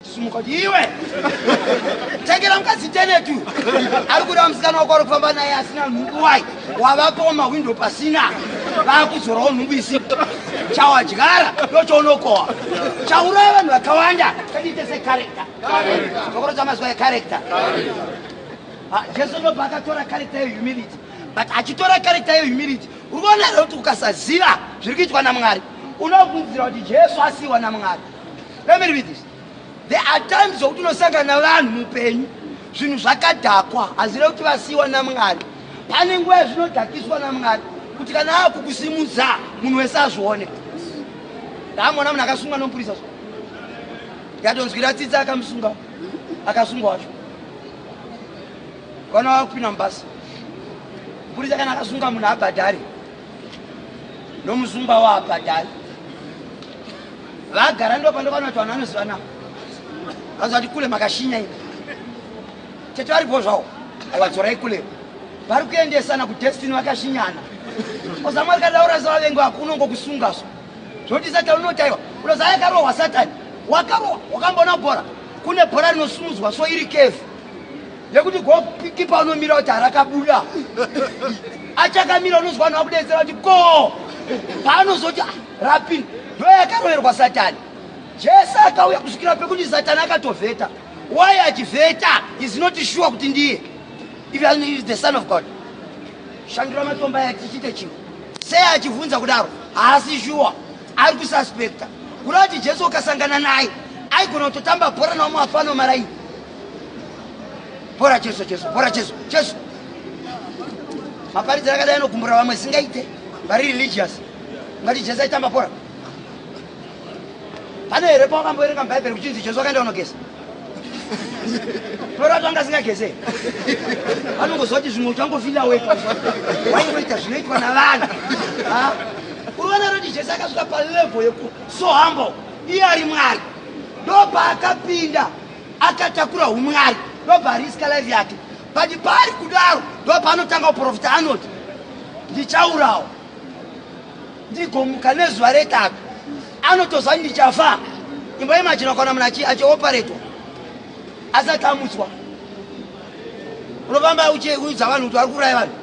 Sumuka kuti iwe tengera mukadzi teneti uyu ari kuda musikana wako ari kufamba naye asina nhumbu wai wavapawo mahwindo pasina vakuzorawo nhumbu isipo chawadyara ndochaunokohwa chauraya vanhu vakawanda chatiite sekarekta chokoro chamazuva ekarekta ah, jesu ndobva akatora karekta yehumility but achitora karekta yehumility uri kuona here kuti ukasaziva zviri kuitwa namwari unobvunzira kuti jesu asiiwa namwari Let me read this. There are times zokuti unosangana vanhu mupenyu zvinhu zvakadhakwa hazira kuti vasiyiwa namwari pane nguva yazvinodhakiswa namwari kuti kana ava kukusimudza munhu wese azvione ndaamona munhu akasungwa nomupurisa zvo yatonzwira tsitsi akamusunga akasungwa wacho vana vava kupinda mubasa mupurisa kana akasunga munhu abhadhari nomuzumba wapa dai vagara ndo pandokana kuti vanhu vanozivana vanzi vati kule makashinya ini tete varipo zvawo aiwadzorai kule vari kuendesana kudestiny vakashinyana ozamwari kadaura zavavengi vako unongo kusunga so zvoti satani unotaiwa unoza yakarohwa satani wakarohwa wakamboona bhora kune bhora rinosumudzwa so iri kevhu yekuti gokipa unomira kuti harakabuda achakamira unonzwa vanhu vakudedzera kuti ko paanozoti ah, rapin ndo yakaroverwa satani jesu akauya kusvikira pekuti satani akatovheta why achivheta is not sure kuti ndiye iveis the son of god shandura matomba yatichite chimwe sei achivhunza kudaro haasi shuwa ari kususpecta kureva kuti jesu ukasangana naye aigona kutotamba bhora nawo muafano maraini bhora jesu jesu bhora jesu jesu maparidzi akadai anogumbura vamwe singaite vari religious ngati jesu aitamba bhora pane here pawakamboerenga mubhaibheri kuchinzi jesu akaenda kunogeza norati anga asingageze anongozoti zvimwe uchangofila weka waingoita zvinoitwa navanhu uri vana roti jesu akasvika palevo yeku so humble iye ari mwari ndopaakapinda akatakura umwari ndobva ariska life yake but paari kudaro ndopaanotanga uprofita anoti ndichaurawa ndigomuka nezuva retatu anotoziva kuti ndichafa imba yemajina kana munhu achioperetwa asati amutswa unofamba uchiudza vanhu kuti vari kuuraya vanhu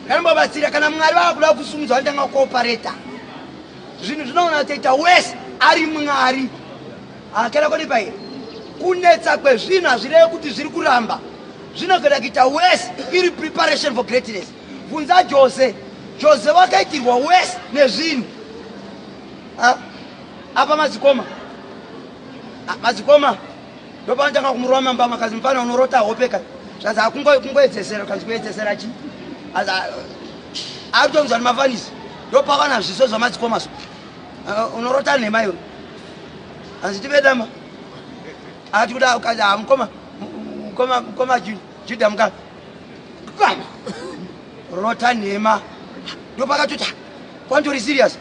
kana mbabatsira kana mwari vava kuda kusumudza vanotanga kuopereta zvinhu zvinoona toita wese ari mwari Ah, kana kodi paye kunetsa kwezvinhu hazvirevi kuti zviri kuramba zvinogona kuita wese iri preparation for greatness bvunza jose jose wakaitirwa wese nezvinhu ah, apa madzikoma ah, madzikoma ndopanotanga kumurova mamba makazi mufana unorota hope ka zvanzi akungoedzesera kanzi kuedzesera chi akutonzwa nemafanisi ndopavana zviso zvamadzikoma so Uh, unorota nhema iwe hanzi tivedama ati kuda ukazi ha ah, mukoma mukoma mukoma juda muka rota nhema ndopakatota kwantori serious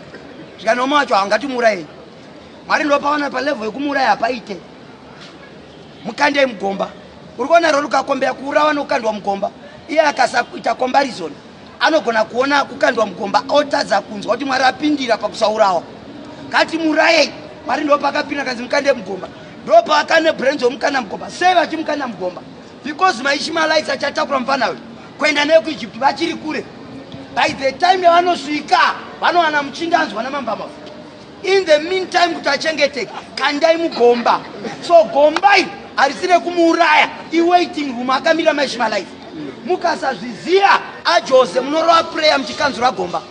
zvikanoma wacho haungatimuurayi mwari ndopaona palevel yekumuuraya hapaite mukandei mugomba uri kuona rori ukakombeya kuurawa nokukandwa mugomba iye akasakuita comparison anogona kuona kukandwa mugomba otadza kunzwa kuti mwari apindira pakusaurawa kati murayei mwari ndo pakapinda kanzi mukande mugomba ndo paakane brenzi womukanda mugomba sei vachimukanda mugomba because maishimalites achatakura mufana uyu kuenda neyo kuegypt vachiri kure by the time yavanosvika vanowana muchinda anzwa namambamafu in the meantime kuti achengeteke kandai mugomba so gombai harisire kumuuraya iwaiting room akamira maishima life mukasazviziva ajose munorova prayer muchikanzura gomba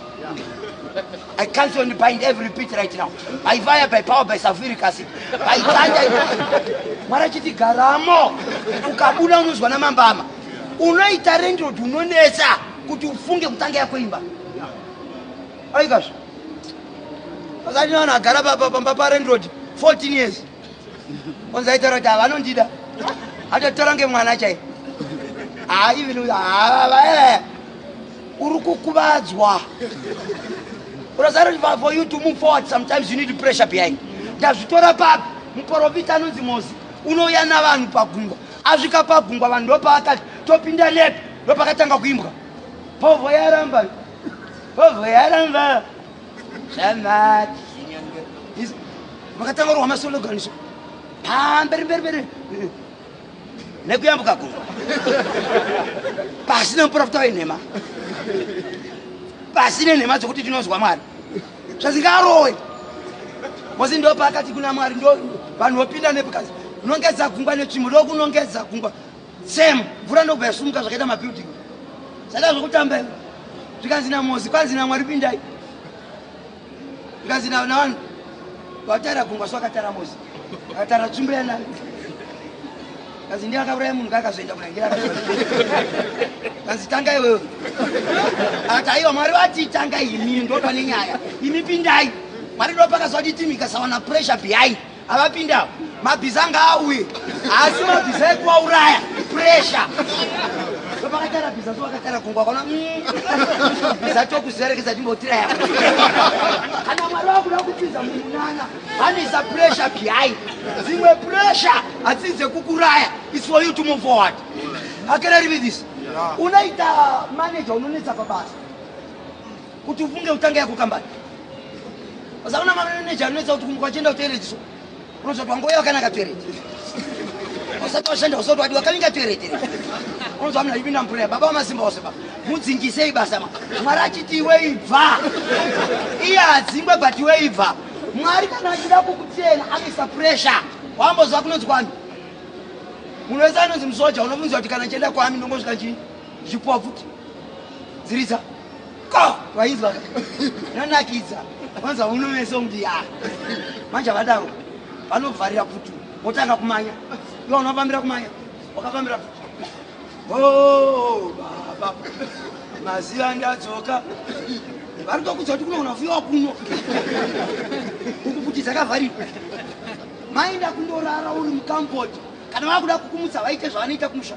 I cancel and bind every repeat right now. By fire, by power, by sulfuric acid. By thunder. Mara chiti garamo. Ukabuna unozwa na mambama. Unoita rendro dunonesa. Kuti ufunge kutanga ya kuimba. aikazvo pakati vanhu agara papa pamba parendrod 14 years onzi aitaura kuti avanondida atotora ngemwana chai haaivin havaevaya uri kukuvadzwa urasara kuti for you to move forward sometimes you need pressure behind ndazvitora papi muporofita anonzi mozi unouya navanhu pagungwa asvika pagungwa vanhu ndopaakati topinda nepi ndopakatanga kuimbwa povho yaramba vovoyaramba zvamati makatanga kurwa masologaniso pamberi mberi mberi nekuyambuka gungwa pasina muprofita wenhema pasine nhema dzokuti tinonzwa mwari zvazingarowe mosi ndo paakati kuna mwari ndo vanhu vopinda nepukazi unongedza gungwa netsvimbo ndokunongedza gungwa Same mvura ndobva yasumuka zvakaita mabuilding zvaita zvokutamba ivo zvikanzi namozi kwanzi namwari pindai zvikanzi navanhu vatara gungwa so akatara mozi akatara tsvimbo yanani kanzi ndiye akauraya munhu kaakazoenda kunangira kanzi tanga iwewe akati aiwa mwari vati tanga imi ndopa nenyaya imi pindai mwari ndopakazoditi mikasawana pressure behind avapindawo mabhiza ngaauye asi mabhiza ekuvauraya presha vakatara bhiza so vakatara gungwa kona mm. bhiza tokuzerekeza timbotiraya kana mwari vakuda kupinza mumunana vanoisa presha behind dzimwe presha hadzii dzekukuraya its for you to move forward akereri vidhisi unoita manager unonetsa pabasa kuti ufunge utange yako kambani usaona mameneja anoita kuti kumuka uchienda kutoeretiswa unozoti wangouya wakanaka toereti usati washanda usati wadi wakavinga toereti unozwa mna ipinda mupuraya baba wamasimba wose baba mudzingisei basa ma mwari achiti iwe ibva iye adzingwe but iwe ibva mwari kana achida kukutsena amisa puresha wambozwa kunonzi kwani munhu wese anonzi musoja unobvunzwa kuti kana chienda kwami ndongosvika chii zvipofuti dziriza ko vaizwa yanakidza vanza uno meso mdiya manje vadaro vanovharira putu votanga kumanya iwa unofambira kumanya wakafambira putu o oh, baba maziva ndadzoka vari tokudza kuti kunogona kufiwa kuno uku kuti dzakavharirwa mainda kundorara uri mukampoti kana vakuda kukumutsa vaite zvavanoita kumusha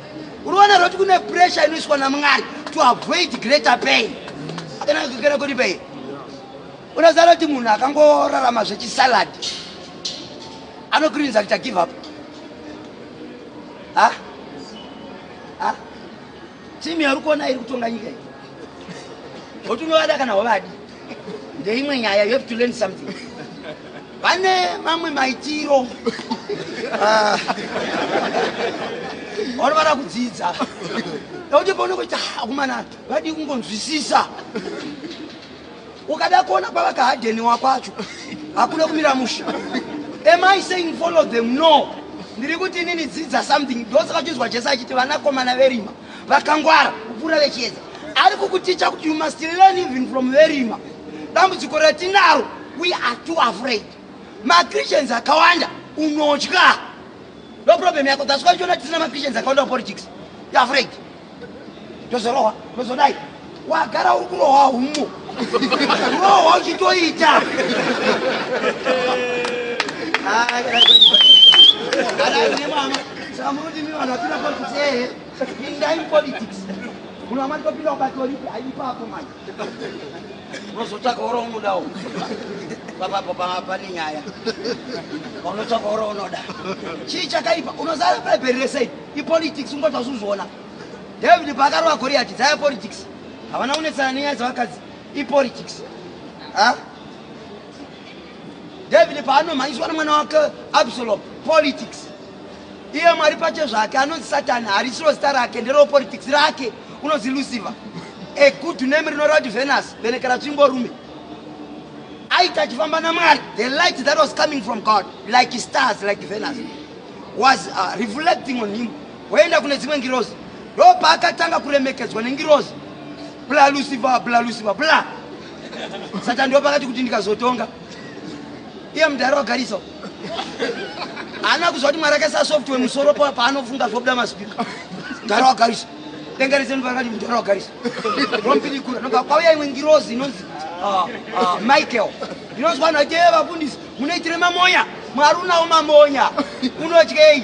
Uruona roti kune pressure inoiswa naMwari to avoid greater pain. Kana kana kuti pain. Unazara kuti munhu akangorarama zvechisalad anokurinza kuti give up. Ha? Ha? Timu yari kuona iri kutonga nyika iyi. Otunovada kana wavadi. ndeimwe nyaya you have to learn something vane mamwe maitiro ah. vano vada kudzidza nokuti paunenge uita akomana vadii kungonzwisisa ukada kuona kwavakahadheni wakwacho hakuna kumira musha am i saying follow them no ndiri kuti inini dzidza something ndosaka chinzwa jesu achiti vanakomana verima vakangwara kupfuura vechiedza ari kukuticha kuti you must learn even from verima dambudziko ratinaro we are too afraid machristians akawanda unotya no problem yako that's why uchiona tisina machristians akawanda papolitics you afraid tozorohwa tozodai wagara uri kurohwa humo rohwa uchitoita samunodimi vanhu vapinda politics ehe pindai mupolitics munhu amati topinda kubatolipi aipapo manje unozotsvaka oro unodawo papapo pane nyaya paunotsvaka oro unoda chii chakaipa unozara bhaibheri resei ipolitics ungotausuzviona David paakarova Goliati dzaya politics. Havana kunetsana nenyaya dzevakadzi ipolitics. Ah? David paanomhanyiswa nemwana wake Absalom politics. Iye Mwari pache zvake anonzi Satani harisiro zita rake nderewo politics rake unonzi Lucifer. A good name rinoreva kuti Venus venekera tsvimbo rume. Aita achifamba naMwari the light that was coming from God like stars like Venus was uh, reflecting on him. woenda kune dzimwe ngirozi ndopaakatanga kuremekedzwa nengirozi bla lusiva bla lusiva bla satani ndopakati kuti ndikazotonga iye mudhara wagarisa haana kuziva kuti mwari akaisa software musoro paanofunga zvobuda maspika mudhara wagarisa denga rese ndopakati mudhara wagarisa rompidikura nobva kwauya imwe ngirozi inonzi ah, ah, michael ndinonzwa nhatie vafundisi munoitire mamonya mwari unawo mamonya unotyei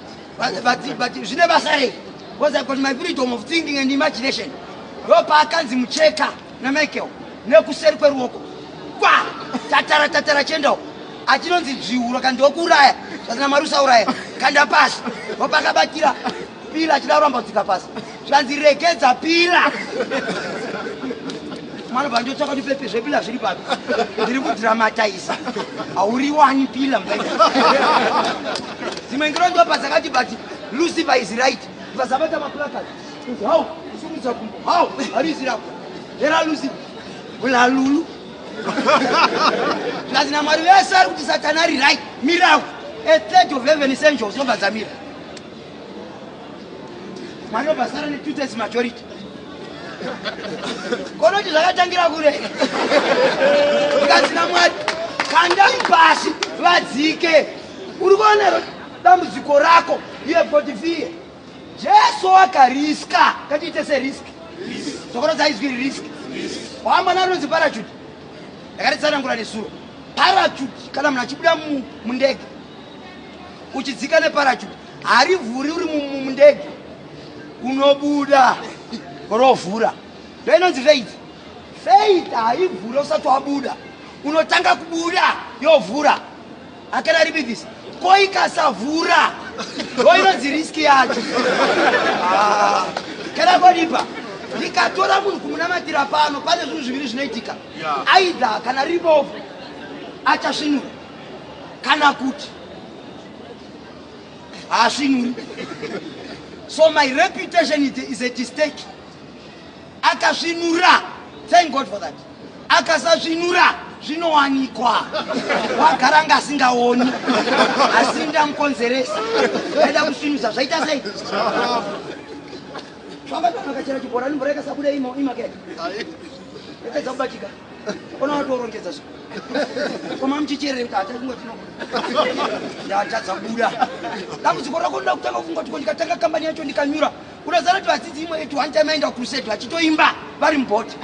but, but, but zvine basa rei because i got my freedom of thinking and imagination ndopaakanzi mucheka namichael nekuseri kweruoko kwa tatara tatara chendawo achinonzi dzviuro kandi wokuuraya zvasina mari usauraya kanda pasi wopakabatira pila achida kuramba kudzika pasi zvanzi regedza pila mwana bva ndotsvaka kuti pepe zvepila zviri papi ndiri kudramataisa hauriwani pila dzimwe ngiro ndo padzakati but lucifer is right vazabata maplakad how kusumudza kumbo how harizirako hera lucifer ulalulu zvazi namwari vese ari kuti satana ari right miraku a third of heaven is angels nobva dzamira Mwana basara ne two thirds majority. Konoti zvakatangira kure. Ikazina mwari kandai pasi vadzike. Uri kuona dambudziko rako you have got fear. Jesu akariska katiite se risk. Sokoro dzaizwi risk. Wamba naro zi parachute. Ndakati tsanangura nesuro. Parachute kana munhu achibuda mundege uchidzika neparachuti harivhuri uri mundege unobuda rovhura ndoinonzi faith faith haivhuri usati wabuda unotanga kubuda yovhura akana ribivisa ko ikasavhura ndoinonzi riski yacho ah, kana kodipa ndikatora munhu kumunamatira pano pane zvinhu zviviri zvinoitika aidha kana ribovu achasvinura kana kuti haasvinuri so my reputation is at stake akasvinura thank god for that akasasvinura zvinowanikwa wagara nga asingaoni asi ndamukonzeresa aida kusvinusa zvaita sei famba kana kachera chibhorani mvura ikasabuda imo imakea ipedza kubatika Ona watorongedza zvo. Koma mchicherere kuti hatari kungoti no. Ndatadza kubuda. Dambudziko rako ndoda kutanga kungoti ko ndikatanga kambani yacho ndikanyura. Unozara kuti vadzidzi imwe yetu one time aenda kucrusade vachitoimba vari mubhoti.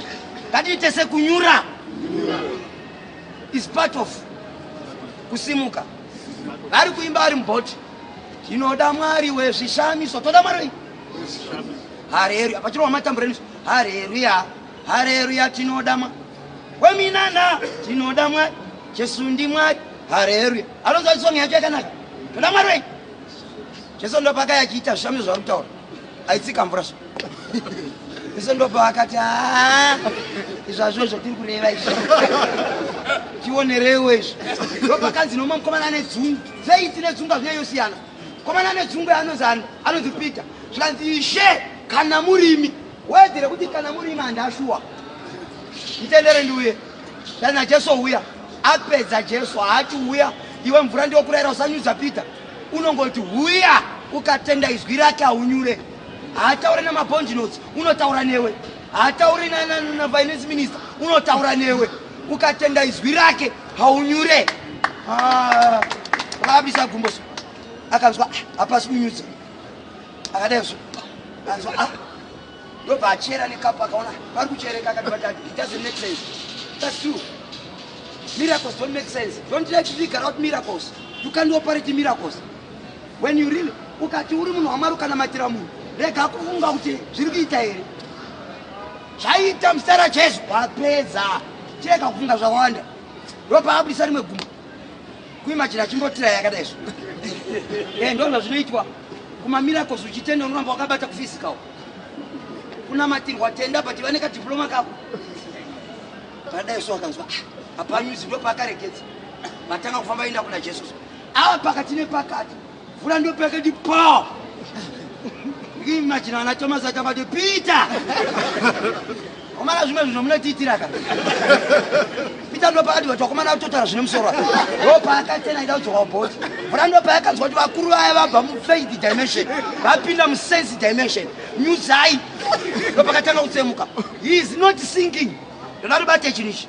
Ngatiite sekunyura. Is part of kusimuka. Vari kuimba vari mubhoti. Tinoda Mwari wezvishamiso. Toda Mwari. Hallelujah. Pachirwa matambura nesu. Hallelujah. hareruya tinoda mwari weminana tinoda mwari jesu ndimwari hareruya anonzwa isongi yacho yakanaka toda mwari wenyu jesu ndopaka yachiita zvishamiso zvaari kutaura aitsika mvura zvo jesu ndopa akati haa izvazvo zvatiri kureva izvo tionerewo izvo ndopakanzi nomwe mukomana ane dzungu seiti nedzungu azvina yosiyana mukomana ane dzungu yaanozani anonzi peter zvikanzi ishe kana murimi Wedzere kuti kana muri manda shuwa. Mtendere ndiuye. Kana Jesu uya. Apedza Jesu haati uya. Iwe mvura ndiyo kurayira usanyudza Peter. Unongoti uya ukatenda izwi rake aunyure. Haataure na mabond notes unotaura newe. Haataure na, na, na finance minister unotaura newe. Ukatenda izwi rake haunyure. Ah. Rabisa gumboso. Akanzwa ah, hapasi kunyudza. akadai zvo anzwa a ah. ndobva achera nekapu akaona vari kuchereka akatibata it doesn't make sense that's true miracles don't make sense don't try to figure out miracles you can't operate miracles when you really ukati uri munhu wamwari ukanamatira munhu rega kufunga kuti zviri kuita here zvaita muzita rajesu wapedza chirega kufunga zvawanda ndopaabudisa rimwe gumbo kuimajina achimbotira yakadai zvo e eh, ndo zvazvinoitwa kumamiracles uchitenda unoramba wakabata kufisikawo kunamatirwa tenda but vane kadiploma kako padai so akanzwa ah, apanyuzi ndo paakarekedza vatanga kufamba enda kuna jesu awa pakati nepakati Vula ndo peke di pa. Ngi imagine ana Thomas atamba di Peter. Omara zvimwe zvinhu mune tiitira ka. Peter ndo pakati watu wakomana kutotara zvine musoro. Ro paka tena ida uzowa bot. Vula ndo paka kanzwa kuti vakuru vaya vabva mu faith dimension. Vapinda mu sense dimension. New side. Ndo pakatanga kutsemuka. He is not singing. Ndodaro bate chinichi.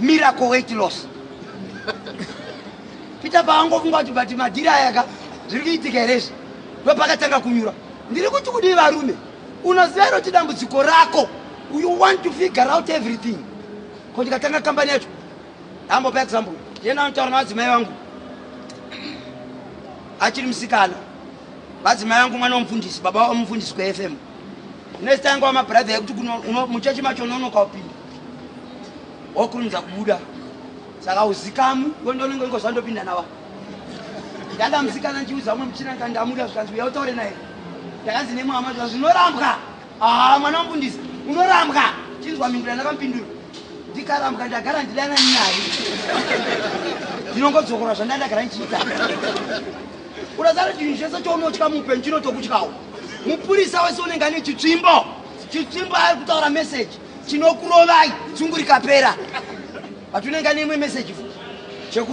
miracle weight loss peter paangofunga kuti but madhiri aya ka zviri kuitika here izvi ndopakatanga kunyura ndiri kuti kudii varume unoziva iro kuti dambudziko rako you want to figure out everything ko ndikatanga kambani yacho hambo pa example yena anotaura navadzimai vangu achiri musikana Bazi mai vangu mwana womufundisi, baba wavo mufundisi kweFM. Nezita yanga wamabhuradha yekuti muchechi macho unonoka upinda. Wokurumidza kubuda. Saka uzikamu, ndononge ngoziva ndopinda nawa. Ndakamusikana ndichiudza umwe muchina ndikandamuda zvikanzi uya utaure naye. Ndakanzi nemwama zvikanzi unorambwa. Ah, mwana wamfundisi unorambwa chinzwa mhindura ndakamupindura ndikarambwa ndagara ndidana nyaya ndinongodzokora zvanda ndagara ndichiita urasara chinhu chese chounotya muupenyu chinotokutyawo mupurisa wese unenge ane chitsvimbo chitsvimbo ari kutaura meseji chinokurovai tsungu rikapera but unenge ane imwe meseji chekufa